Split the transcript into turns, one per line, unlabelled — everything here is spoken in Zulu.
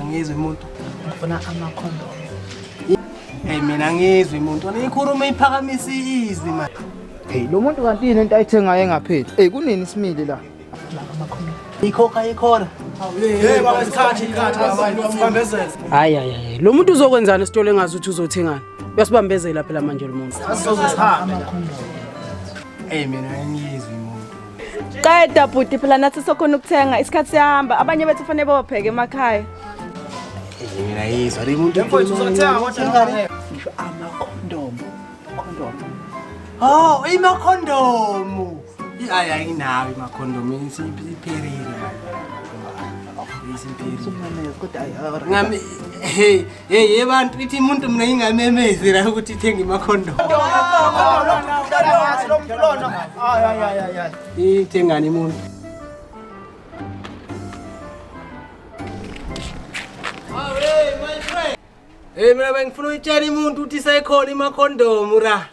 angizwe
umuntu ngifuna
amakhondomu
Hey mina ngizwe umuntu nikhuluma iphakamisa izwi manje. Hey lo muntu
kanti yini into ayithengayo engapheli? Hey kunini isimile la? Ikhokha ikhona.
Hey baba isikhathi isikhathi baba sibambezela. Hayi hayi hayi
lo muntu uzokwenzana esitolo engazi ukuthi uzothengani. Uyasibambezela phela manje lo muntu. Asizozihamba.
Hey mina ngizwe Qeda
bhuti phela nathi sokhona ukuthenga isikhathi siyahamba abanye bethu fanele bawapheke emakhaya.
Mina yizwa le muntu mfowethu uzothenga kodwa
ngisho ama condom. Condom.
Oh, ima condom. Hayi ayinawo ima condom isiphelile. Isiphelile. Ngami hey Hey hey bantu ithi umuntu mina ngingamemezi la ukuthi ithenge imakhondo. Ithengani umuntu. Hey mina bengifuna uyitshela umuntu ukuthi sekhona imakhondomu ra.